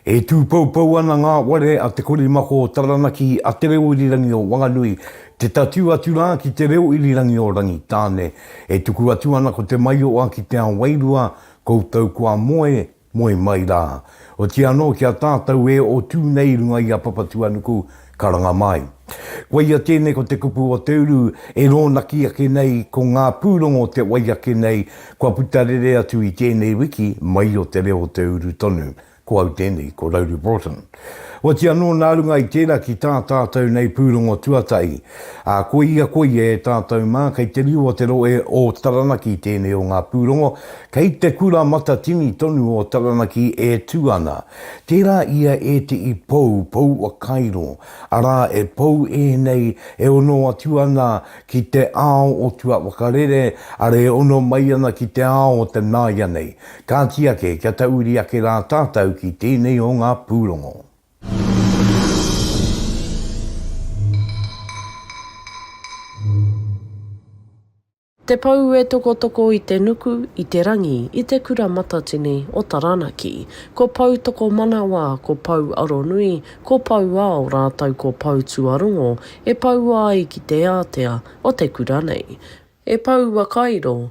E tūpoupou ana ngā ware a Te Korimako o Taranaki, a Te Reo Irirangi o Wanganui, te tatū atu rā ki Te Reo Irirangi o Rangitāne. E tuku atu ana ko Te Maioa ki Te Ao Wairua, koutou kua moe Moe mai rā. Otiia anō ki a tātou e o tū nei i runga i a Papatuanuku, karanga mai. Koia tēnei ko te kupu o te uru e rōnaki ake nei ko ngā pūrongo te wai ake nei kua puta rere atu i tēnei wiki mai o te reo o te uru tonu. Ko au tēnei, ko Rauri Broughton. Oati anō nā runga i tērā ki tā tātou nei pūrongo tuatahi, ā, ko ia koia e tātou mā, kei te riu o te rohe o Taranaki tēnei o ngā pūrongo, kei te kura matatini tonu o Taranaki e tū ana. Tērā ia e te i pou, pou whakairo, arā, e pou ēnei e ono atu ana ki te ao o tuawhakarere, arā e ono mai ana ki te ao o te nāianei, Kāti ake kia tauiri ake rā tātau ki tēnei o ngā pūrongo. Te Pou e tokotoko i te nuku, i te rangi, i te Kura Matatini o Taranaki. Ko Pou Tokomanawa, ko Pou Aronui, ko Pou Ao rātou ko Pou Tuarongo e poua ai ki te ātea o te kura nei. E Pou Wakairo,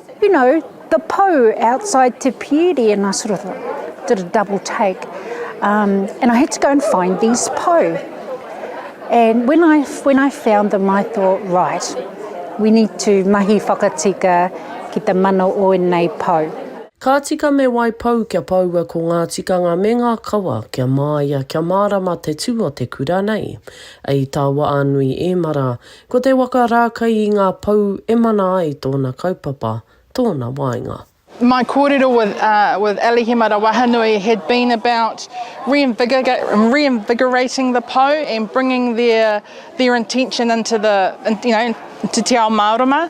You know, the pou outside Te Pieri and I sort of did a double take um and I had to go and find these pou and when I when I found them I thought, right, we need to mahi whakatika ki te mana o ēnei pou. Ka tika me wai pou kia poua ko ngā tikanga me ngā kawa kia māia kia mārama te tū o te kura nei. I tāua ānui ēmara Ko te waka rā kai i ngā pou e mana ai tōna kaupapa, tōna waenga. My kōrero with with Alihima Rawahanui had been about reinvigorating the pou and bringing their their intention into the you know into Te Ao Mārama.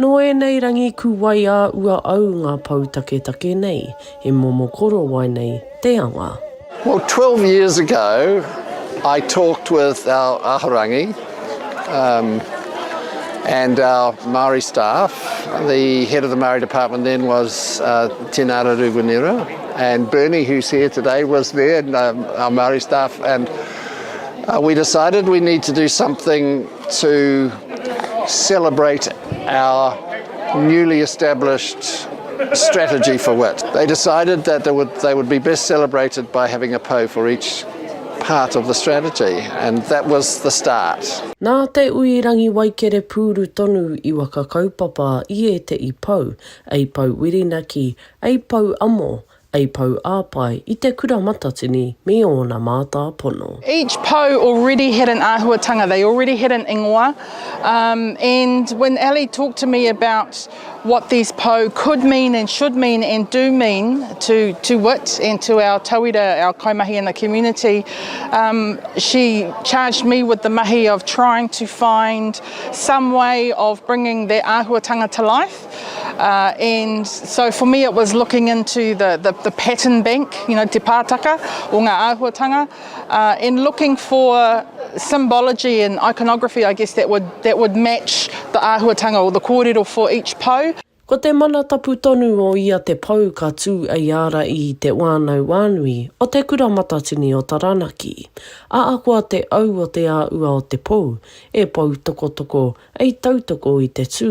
Nō ēnei rangi kuwai ā ua au ngā pou taketake nei, he momo korowai nei te anga. Well 12 years ago I talked with our Ahorangi um and our Māori staff, the head of the Māori department then was Tēnā Raru Winera and Bernie who's here today was there and our Māori staff and we decided we need to do something, to celebrate our newly established strategy for wit. They decided that they would, they would be best celebrated by having a pou for each part of the strategy and that was the start. Nā Te Ui Rangiwaikere pūru tonu i waka kaupapa i ēteʻi pou, ei pou Whirinaki, ei pou amo, A pou āpae i te kura matatini me ōna mātāpono. Each pou already had an āhuatanga, they already had an ingoa um and when Ali talked to me about what these pou could mean and should mean and do mean to to wit and to our tauira, our kaimahi and the community um she charged me with the mahi of trying to find some way of bringing that āhuatanga to life. Uh, and so for me it was looking into the, the, the pattern bank, you know, te pātaka o ngā āhuatanga, uh, and looking for symbology and iconography, I guess, that would, that would match the āhuatanga or the kōrero for each pou. Ko te mana tapu tonu o ia te pou ka tū ei ara i Te Wānau Wānui o Te Kura Matatini o Taranaki. Ahakoa te au o te āua o te pou, e poutokotoko ei tautoko i te tū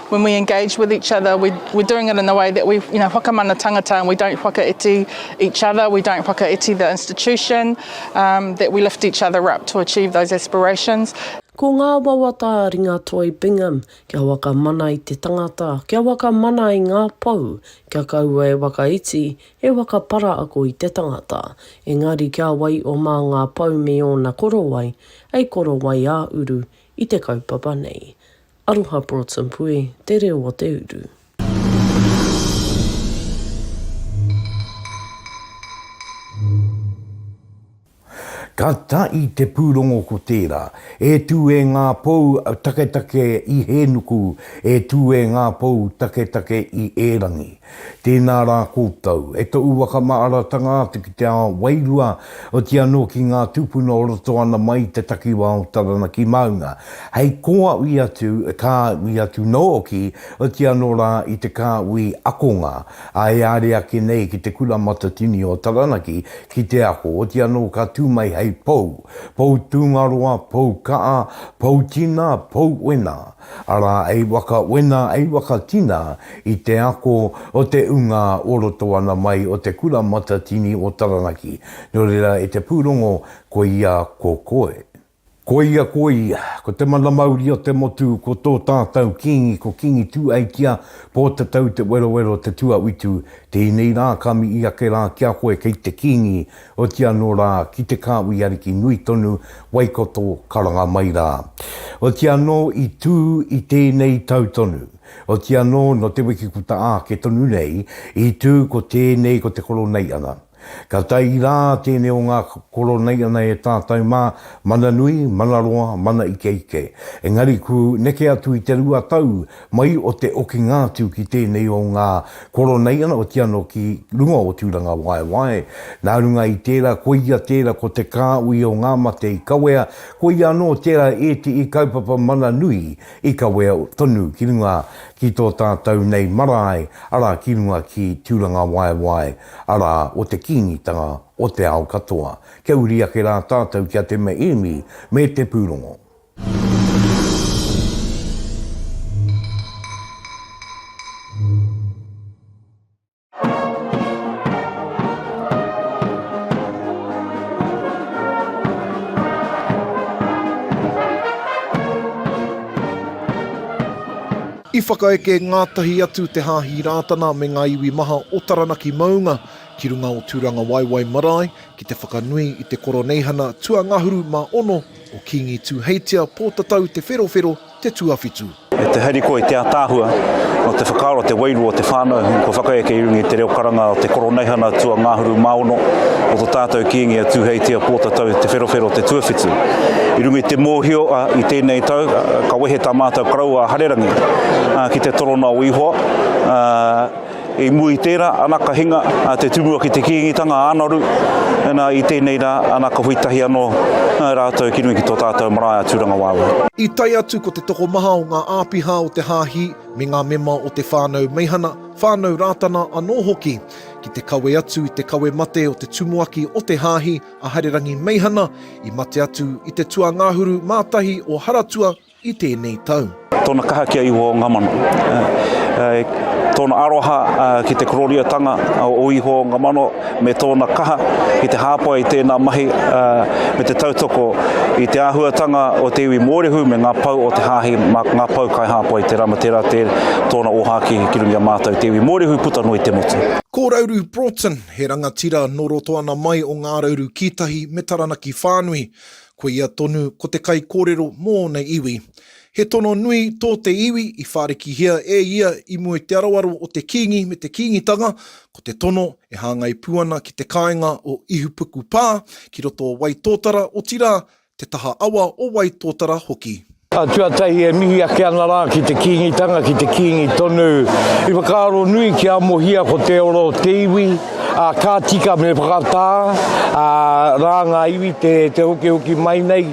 When we engage with each other, we, we're doing it in a way that we, you know, whakamana tangata and we don't whakaiti each other, we don't whakaiti the institution, um, that we lift each other up to achieve those aspirations. Ko ngā wawata a Ringatoi Bingham, kia whakamana i te tangata, kia whakamana i ngā pou, kia kaua e whakaiti, e whakapara ako i te tangata. Engari kia wai o mā ngā pou me ōna korowai, hei korowai ā-uru i te kaupapa nei. Aroha Broughts and Puhi, te reo o te uru. Ka tahi te pūrongo ko tērā, e tū e ngā pou taketake i Hēnuku, e tū e ngā pou taketake i Ērangi. Tēnā rā koutou, e to u wakamaaratanga atu ki te ao wairua, oti anō ki ngā tūpuna o roto ana mai i te takiwā o Taranaki Maunga, hei kōaui atu, kāui atu nōki, oti anō rā i te kāui akonga, ā, e āre ake nei ki te Kura Matatini o Taranaki ki te ako, oti anō ka tū mai hei pou, pou tūngaroa, pou kaa, pou tina, pou wena. Arā, ei waka wena, ei waka kina i te ako o te ungā o roto ana mai o te Kura Matatini o Taranaki, nō reira e te pūrongo koia ko koe. Koia koia, ko te mana mauri o te motu, ko tō tātau Kīngi ko Kīngi Tūaikia, Pōtatau te werowero te tuawitu, tēnei rā ka mihi ake rā ki a koe kei te Kīngi, Oti anō rā, ki te kāhui ariki nui tonu, Waikato, ka ranga mai rā. Oti anō i tū i tēnei tau tonu. Oti anō nō te wiki puta ake tonu nei, i tū ko tēnei ko te Koroneiana. Ka tae rā tēnei o ngā Koroneiana e tātau mā, mana nui, mana roa, mana ikeike. Engari ku neke atu i te rua tau, Mai o te okinga atu ki tēnei o ngā Koroneiana o Tiano ki runga o Tūrangawaewae. Nā runga i tērā, koia tērā ko te kāhui o ngā mate i kawea, koia anō tērā ētehi kaupapa mana nui i kawea tonu ki runga ki tō tātou nei marae, arā, ki runga ki Tūrangawaewae, arā, o te Kīngitanga o te ao katoa. Kia uri ake rā tātou ki a Te Meemi me te pūrongo. I whakaeke ngātahi atu te Hāhi Rātana me ngā iwi maha o Taranaki maunga ki runga o Tūrangawaewae marae ki te whakanui i te Koroneihana tuangahuru mā ono Ko Kīngi Tūheitia Pōtatau Te Wherowhero te tuawhitu. E te harikoa, e te ātaahua, nō te whakaaro, te wairua o te whānau, kua whakaeke i runga i te reo karanga o te Koroneihana Tua Ngāhuru Māono o tō tātou Kīngi a Tūheitia Pōtatau Te Wherowhero te tuawhitu. I runga i te mōhio i tēnei tau ka wehe tā mātou Karaua a Harerangi ki te torona o Ihoa, I mua i tērā, ana ka hinga te Tumuaki ki te Kīngitanga ā-Naru, ina i tēnei rā, ana ka hui tahi anō rātou ki runga ki tō tātou marae a Tūrangawaewae. I tae atu ko te tokomaha o ngā āpiha o te Hāhi me ngā mema o te whānau Meihana, whānau Rātana anō hoki, ki te kawe atu i te kawe mate o te Tumuaki o te Hāhi a Harerangi Meihana, i mate atu i te tuangahuru mātahi o Haratua, i tēnei tau. Tōna kaha ki a Ihowa o ngā mano. Tōna aroha ki te kororiotanga o Ihowa o ngā mano, me tōna kaha ki te hāpai i tēnā mahi me te tautoko i te āhuatanga o te iwi Mōrehu me ngā pou o te Hāhi, ngā pou kai hāpai tērā me tērā tōna ōhākī ki runga i a mātou te iwi Mōrehu puta noa i te motu. Ko Rauru Broughton, he rangatira nō Rotoana mai o Ngā Rauru Kītahi me Taranaki whānui. Ko ia tonu ko te kaikōrero mō ōna iwi. He tono nui tō te iwi i whārikihia e ia i mua i te aroaro o te kīngi me te kīngitanga, ko te tono e hāngai pū ana ki te kāinga o Ihupukupā ki roto o Waitōtara, otirā, te taha awa o Waitōtara hoki. Tuatahi e mihi ake ana rā ki te Kīngitanga, ki te Kīngi tonu. I whakaaro nui kia amohia ko te ora o te iwi, ā, ka tika me whakatā ā, rā ngā iwi te, te hokihoki mai nei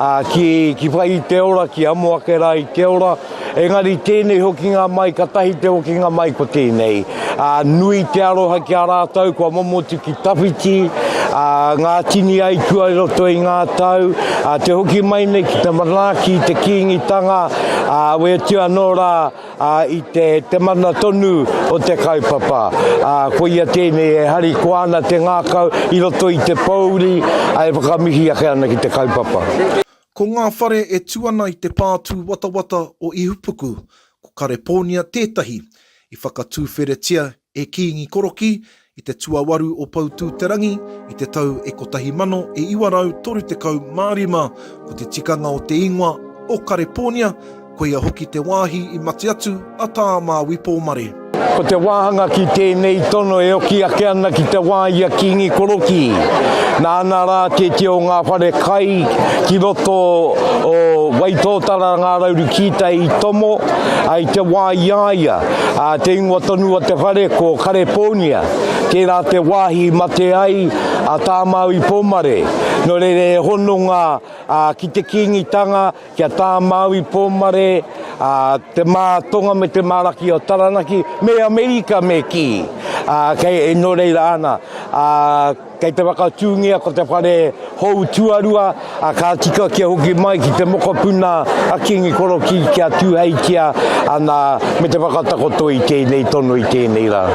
ā, ki, ki whai i te ora, ki amo ake rā i te ora. Engari tēnei hokinga mai, katahi te hokinga mai ko tēnei. ā, nui te aroha ki a rātou kua momotu ki tawhiti, ā, ngā tini aitua i roto i ngā tau, ā, te hoki mai nei ki te manaaki i te Kīngitanga, ā, wetu anō rā, ā, i te, te mana tonu o te kaupapa. Ā, koia tēnei e harikoa ana te ngākau i roto i te pōuri, ā, e whakamihi ake ana ki te kaupapa. Ko ngā whare e tū ana i te pā tūwatawata o Ihupuku, Ko Karepōnia tētahi i whakatūwheretia e Kīngi Korokī i te tuawaru o Poutū-te-rangi i te tau e kotahi mano e iwa rau toru tekau mā rima, ko te tikanga o te ingoa o Karepōnia, koia hoki te wāhi i mate atu a Tā Māui Pōmare. Ko te wāhanga ki tēnei tono e oki ake ana ki te wā i a Kīngi Korokī, nāna rā te tio o ngā whare kai ki roto o Waitōtara ngā rauru kītai i tomo, ā, i te wā i a ia, ā, te ingoa tonu o te whare ko Karepōnia, tērā te wāhi i mate ai a Tāmau i Pōmare, nō reira he hononga, ā, ki te Kīngitanga, Kia tā Māui Pōmare, ā, te mātonga me te māraki o Taranaki, me Amerika me kī, ā, kei, nō reira ana, ā, kei te whakatūngia ko te whare hou tuarua, ā, ka tika kia hoki mai ki te mokopuna a Kīngi Korokī kia tūheitia ana me te whakatakoto i tēnei tono, i tēnei rā.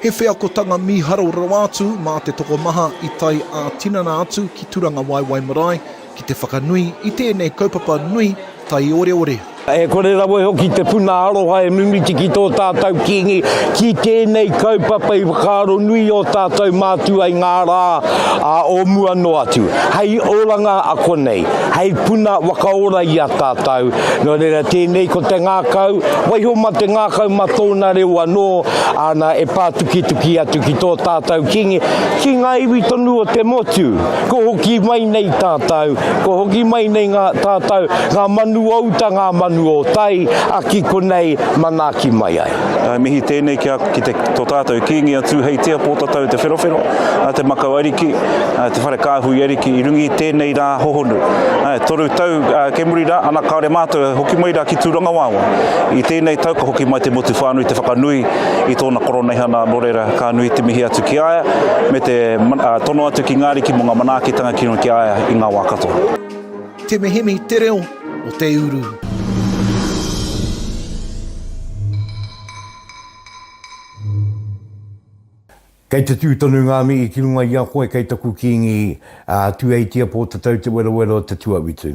He wheakotanga mīharo rawa atu mā te tokomaha i tae ā-tinana atu ki Turangawaewae Marae, Ki te whakanui i tēnei kaupapa nui taioreore. E kore rawa hoki te puna aroha e mimiti ki tō tātou Kīngi, ki tēnei kaupapa i whakaaro nui ō tātou mātua i ngā rā o mua noa atu, hei oranga a konei, hei puna wakaora i a tātou. Nō reira, tēnei ko te ngākau, waiho mā te ngākau mā tōna reo anō, ana e pātukituki atu ki tō tātou Kīngi, ki ngā iwi tonu o te motu. Kua hoki mai nei tātou, kua hoki mai nei ngā tātou, ngā manu o uta, ngā manu o tai, a ki konei, manaaki mai ai. Mihi tēnei ki a, ki te, tō tātou Kīngi a Tūheitia, Pōtatau Te Wherowhero, Te Makau Ariki, Te Whare Kāhui Ariki, i runga i tēnei rā hohonu. Toru tau kei muri rā, ana kāore mātou e hoki mai rā ki Tūrangawaewae. I tēnei tau ka hoki mai te motu whānui te whakanui i tōna koroneihana nō reira, Ka nui te mihi atu ki a ia, me te tono atu ki ngā ariki mō ngā manaakitanga kino ki a ia i ngā wā katoa. Te mihimihi te reo o te uru. Kei te tū tonu ngā mihi ki runga i a koe kei taku Kīngi a Tūheitia Pōtatau Te Werawera o Te Tuawitu.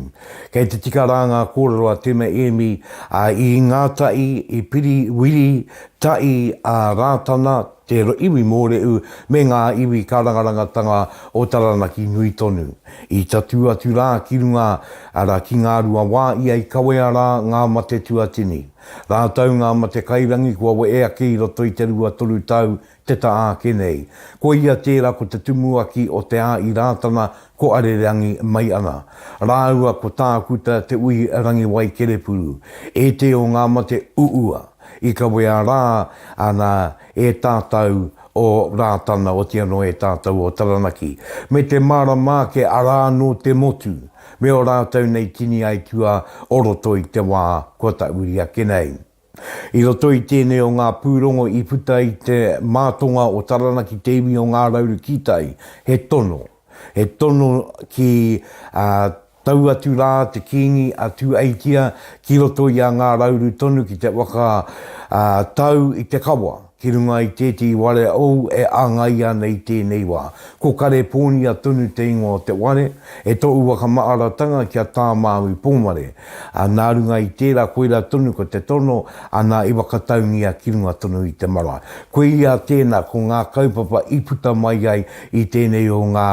Kei te tika rā ngā kōrero a Teme Ēmi, a Īngātaʻi, i Piri Wiri Tai a Rātana, te iwi mōrehu me ngā iwi karangarangatanga o Taranaki nui tonu. I tatū atu rā ki runga, arā ki Ngāruawā ia i kawea rā ngā mate tuatini. Rātou ngā mate kairangi kua wehe ake i roto i te rua toru tau te taha ake nei. Ko ia tērā ko te tumuaki o Te Āi Rātana ko Arereangi mai ana. Rāua ko Tākuta Te Ui Rangiwai Kerepuru, e te o ngā mate uua. I kawea rā ana e tātau o Rātana, oti anō e tātau o Taranaki, me te mārama ake arā nō te motu, me ō rātau nei tini aitua o roto i te wā kua tahuri ake nei. I roto i tēnei o ngā pūrongo i puta i te mātonga o Taranaki te iwi o Ngā Rauru Kītai, he tono, he tono ki Tau atu rā te Kīngi a Tūeitia ki roto i a Ngā Rauru tonu ki te waka ā Tau i te Kawa, ki runga i tētehi ware ou e āngai ana i tēnei wā. Ko Karepōnia tonu te ingoa o te ware, e tōu wakamaaratanga ki a Tāmāui Pōmare, ā, nā runga i tērā koirā tonu ko te tono, ana i whakataungia ki runga tonu i te marae. Koia tēnā, ko ngā kaupapa i puta mai ai I tēnei o ngā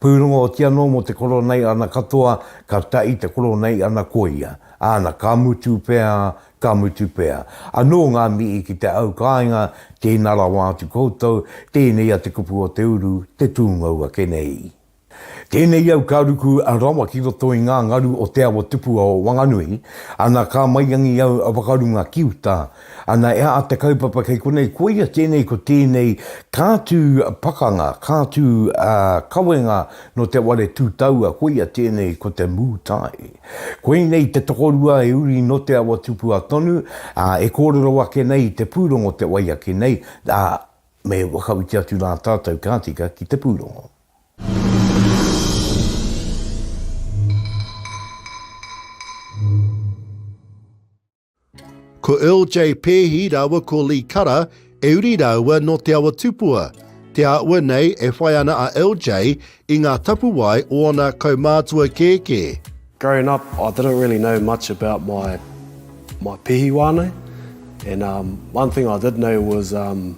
pūrongo oti anō mō te koronei ana katoa ka ta i te koronei ana koia, ana ka mutu pea, ka mutu pea. Anō ngā mihi ki te au kāinga, tēnā rawa atu koutou, tēnei a Te Kupu o te Uru, te tūngou ake nei. Tēnei au ka ruku rawa ki roto i ngā ngaru o te awa tupua o Wanganui, ana ka maiangi au whakarunga ki uta, Ana e a te kaupapa kei konei koia tēnei ko tēnei ka tū pakanga, ka tū kawenga no te ware tū taua koia tēnei ko te mū tae. Koinei te tokorua e uri no te awa tupua tonu, a e kōrero ake nei i te pūrongo te wai ake nei, a me whakawiti atu rā tātou ka tika ki te pūrongo. Ko Earl J. Peehi rāua ko Lee Kara e uri rāua nō Te Awa Tupua. Te āhua nei e whai ana a Earl J. i ngā tapuwae o ana kaumātua kēkē. Growing up I didn't really know much about my my Peehi wānau and um one thing I did know was um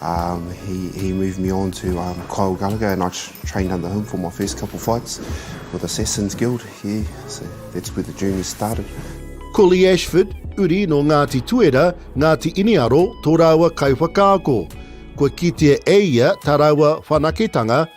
Um he he moved me on to um Kyle Gallagher and I trained under him for my first couple fights with Assassins Guild yeah so that's where the journey started. Ko Lee Ashford, uri nō Ngāti Tuera, Ngāti Iniaro, tō rāua kaiwhakaako. Kua kitea e ia tā rāua whanaketanga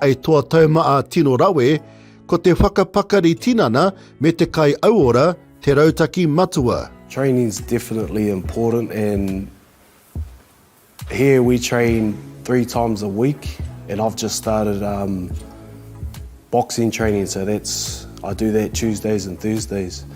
I toa tauma a Tino Rawe, ko te whakapakari tinana me te kai auora te rautaki matua. Training's definitely important and here we train three times a week and I've just started boxing training so that's I do that Tuesdays and Thursdays.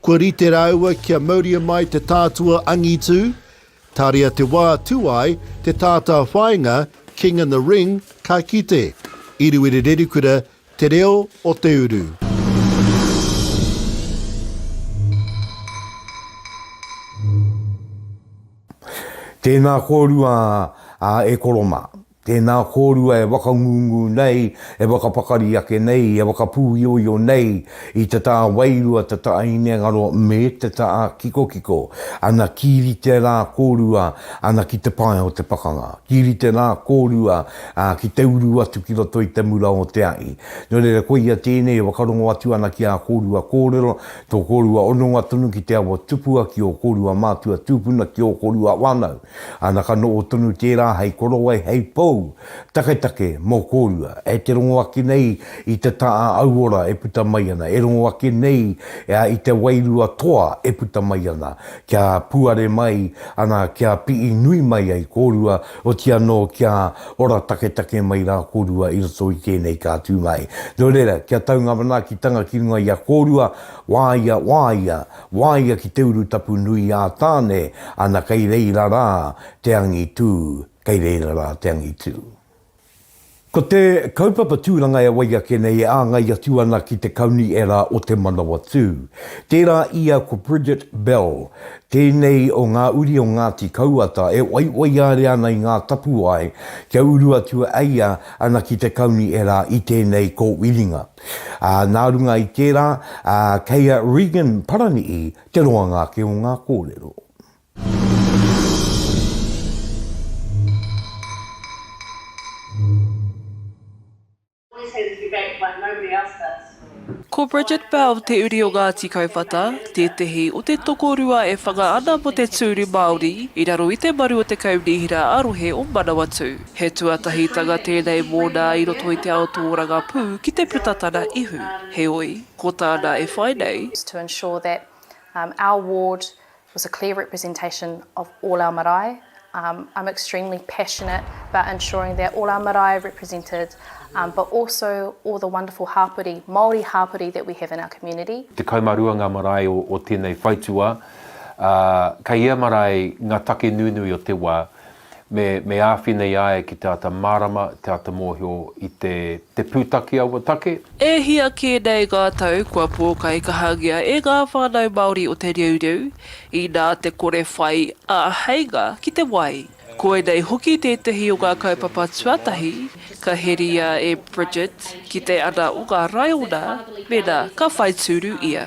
Kua rite rāua kia mauria mai te tātua angitu, tāria te wā tū ai te tātāwhāinga King in the Ring ka kite, i Ruerererikura te reo o te uru. Tēnā kōrua a E koro mā. Tēnā kōrua e whakangungu nei, e whakapakari ake nei, e whakapūioio nei i te tā wairua, te tā hinengaro me te tā kikokiko. Ana ki rite rā kōrua, ana ki te pae o te pakanga. Ki rite rā kōrua, ā, ki te uru atu ki roto i te mura o te ahi. Nō reira koia tēnei e whakarongo atu ana ki ā kōrua kōrero, tō kōrua hononga tonu ki te awa tupua, ki ō kōrua mātua tūpuna, ki ō kōrua whānau. Ana ka noho tonu tērā hei korowai, hei pou, taketake mō kōrua, e te rongo ake nei i te tā auora e puta mai ana, e rongo ake nei i te wairua toa e puta mai ana, kia puare mai ana, kia pii nui mai ai kōrua, oti anō kia ora taketake mai rā kōrua i roto i tēnei ka tū mai. Nō reira, kia tau ngā manaakitanga ki runga i a kōrua, wāia, wāia, Waia ki te urutapu nui ā Tāne, ana kei reira rā te angitū, kei reira rā te angitū. Ko te kaupapa tūranga e wai ake nei e āngai atu ana ki te kauniera o Te Manawatū. Tērā ia ko Bridget Bell, tēnei o ngā uri o Ngāti Kauata e waiwaiāre ana i ngā tapuwae kia uru atu a ia ana ki te kauniera i tēnei kōwiringa. Ā, nā runga i tērā, ā, kei a Regan Parani'i te roanga ake o ngā kōrero. Ko Bridget Bell te uri o Ngāti Kauwhata, tētehi o te tokorua e whanga ana mō te tūru Māori i raro i te maru o te Kaunihera ā-Rohe o Manawatū. He tuatahitanga tēnei mōna i roto i te ao tōrangapū ki te puta tana ihu, heoi, ko tāna e whai nei, to ensure that our ward was a clear representation of all our marae, I'm extremely passionate about ensuring that all our marae are represented but also all the wonderful hāpori, Māori hāpori that we have in our community. 12 ngā marae o tēnei whaitūā, ā, kei ia marae ngā take nunui o te wā, Me, me āwhina i a ia ki te āta mārama, te āta mōhio i te, te pūtake a ua take. E hia kē nei ngā tau kua pōkaikahangia e ngā whānau Māori o Te Reureu, inā te kore whai āheinga ki te wai. Koinei hoki tētehi o ngā kaupapa tuatahi ka heria e Bridget ki te ana o ngā raiona, mēnā ka whai tūru ia.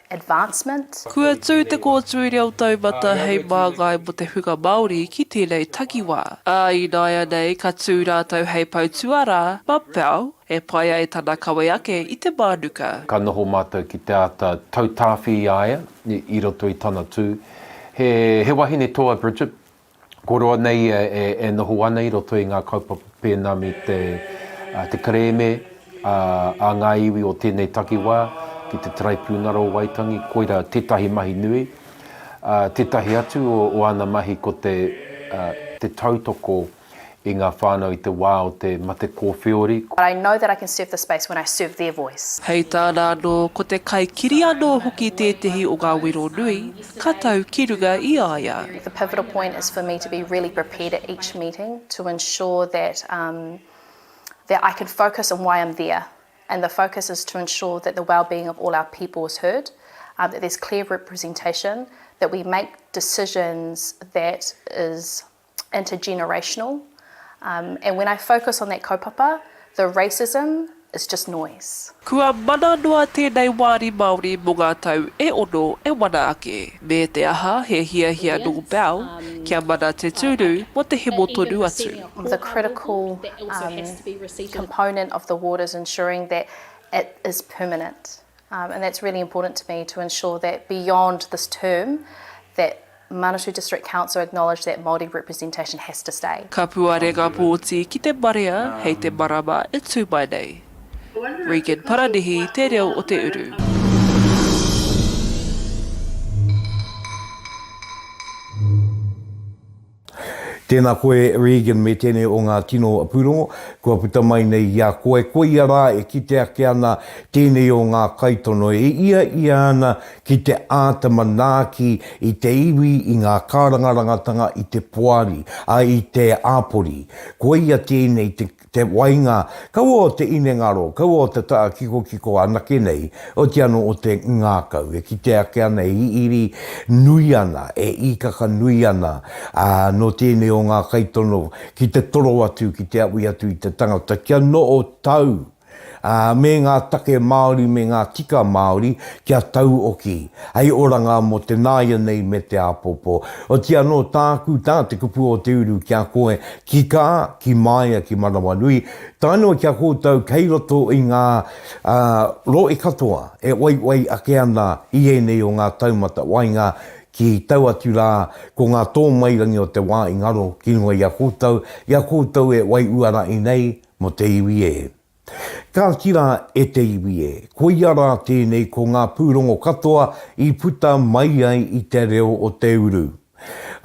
advancement. Kua tū te kōtui reo taumata hei māngai mō te hunga Māori ki tēnei takiwā, ā, ināianei ka tū rātou hei pou tuarā, mapao, e pai ai tana kawe ake i te mānuka. Ka noho mātou ki te āta tautāwhi i a ia i roto i tana tū. He wahine toa Bridget, Ko roa nei ia e noho ana i roto i ngā kaupapa pēnā me te kerēme a ngā iwi o tēnei takiwā ki te Taraipiunara o Waitangi, koira tētahi mahi nui. Tētahi atu o ana mahi ko te tautoko i ngā whānau i te wā o te mate kōwhiori, ko. But I know that I can serve the space when I serve their voice. Hei tāna anō, ko te kaikiri anō hoki tētehi o ngā wero nui ka tau ki runga i a ia. The pivotal point is for me to be really prepared at each meeting to ensure that um that I can focus on why I'm there and the focus is to ensure that the wellbeing of all our people is heard, um that there's clear representation, that we make decisions that is. intergenerational um and when I focus on that kaupapa the racism is just noise. Kua mana noa tēnei wāri Māori mō ngā tau e ono e wana ake, me te aha he hiahia nō Bell kia mana te tūru mō te hemo tonu atu. The critical um component of the ward is ensuring that it is permanent um and that's really important to me to ensure that beyond this term that Manawatu District Council acknowledge that Māori representation has to stay. Kapua renga pōti ki te marea hei te marama e tū mai nei. Regan Paranihi te reo o te uru. Tēnā koe Regan me tēnei o ngā tino pūrongo kua puta mai nei i a koe. Koia rā e kite ake ana tēnei o ngā kaitono e ia ia ana ki te āta manaaki i te iwi, i ngā kārangarangatanga, i te poari, ā, i te āpori. Koia tēnei te, te wainga, kaua o te inengaro, kaua o te taha kikokiko anake nei, oti anō o te ngākau, e kite ake ana, e hihiri nui ana, e īkaka nui ana, ā, nō tēnei o ngā kaitono ki te toro atu, ki te awi atu i te tangata, kia noho tau. ā, me ngā take Māori me ngā tika Māori kia tauoki, hei oranga mō te nāianei me te āpōpō. Oti anō tāku, tā te kupu o te uru ki a koe, ki kā, ki māia, ki manawanui, tae noa ki a koutou kei roto i ngā rohe katoa e waiwai ake ana i ēnei o ngā taumata waenga ki tau atu rā, ko ngā tōmairangi o te wā i ngaro ki runga i a koutou, i a koutou e wai uarahi nei, Mō te iwi e. Kāti rā e te iwi e. Koia rā tēnei ko ngā pūrongo katoa i puta mai ai i te reo o te uru.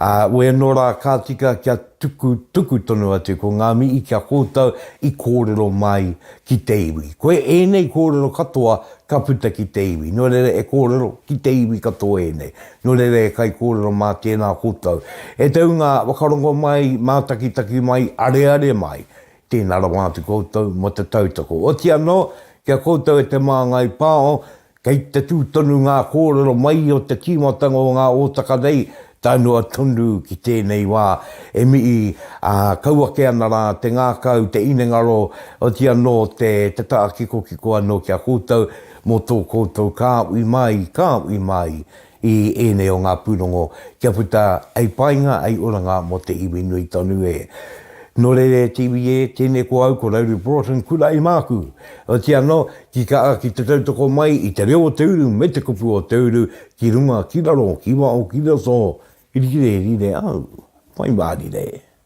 Ā, wēnō rā ka tika kia tuku, tuku tonu atu ko ngā mihi ki a kōtou i kōrero mai ki te iwi. Koe ēnei kōrero katoa ka puta ki te iwi. Nō reira e kōrero ki te iwi katoa ēnei. Nō reira e kaikōrero mā tēnā kōtou. E te hunga whakarongo mai, mātakitaki mai, areare mai. Tēnā rawa atu koutou mō te tautoko. Oti anō, ki a koutou e te māngai pāo, kei te tū tonu ngā kōrero mai o te tīmatanga o ngā ōtaka nei, tae noa tonu ki tēnei wā, e mihi, ā, kau ake ana rā te ngākau, te inengaro, oti anō te tākikokiko anō ki a koutou mō tō koutou kāhui māi, kāhui māi, i ēnei o ngā pūrongo kia puta hei painga, hei oranga mō te iwi nui tonu e. Nō reira e te iwi e, tēnei ko au, ko Rauru Broughton, kura i māku. Otiia anō, ki ka a ki te tautoko mai i te reo o te uru me te kupu o te uru ki runga, ki raro, ki waho, ki roto, rīrē, rīrē au, pai mārire.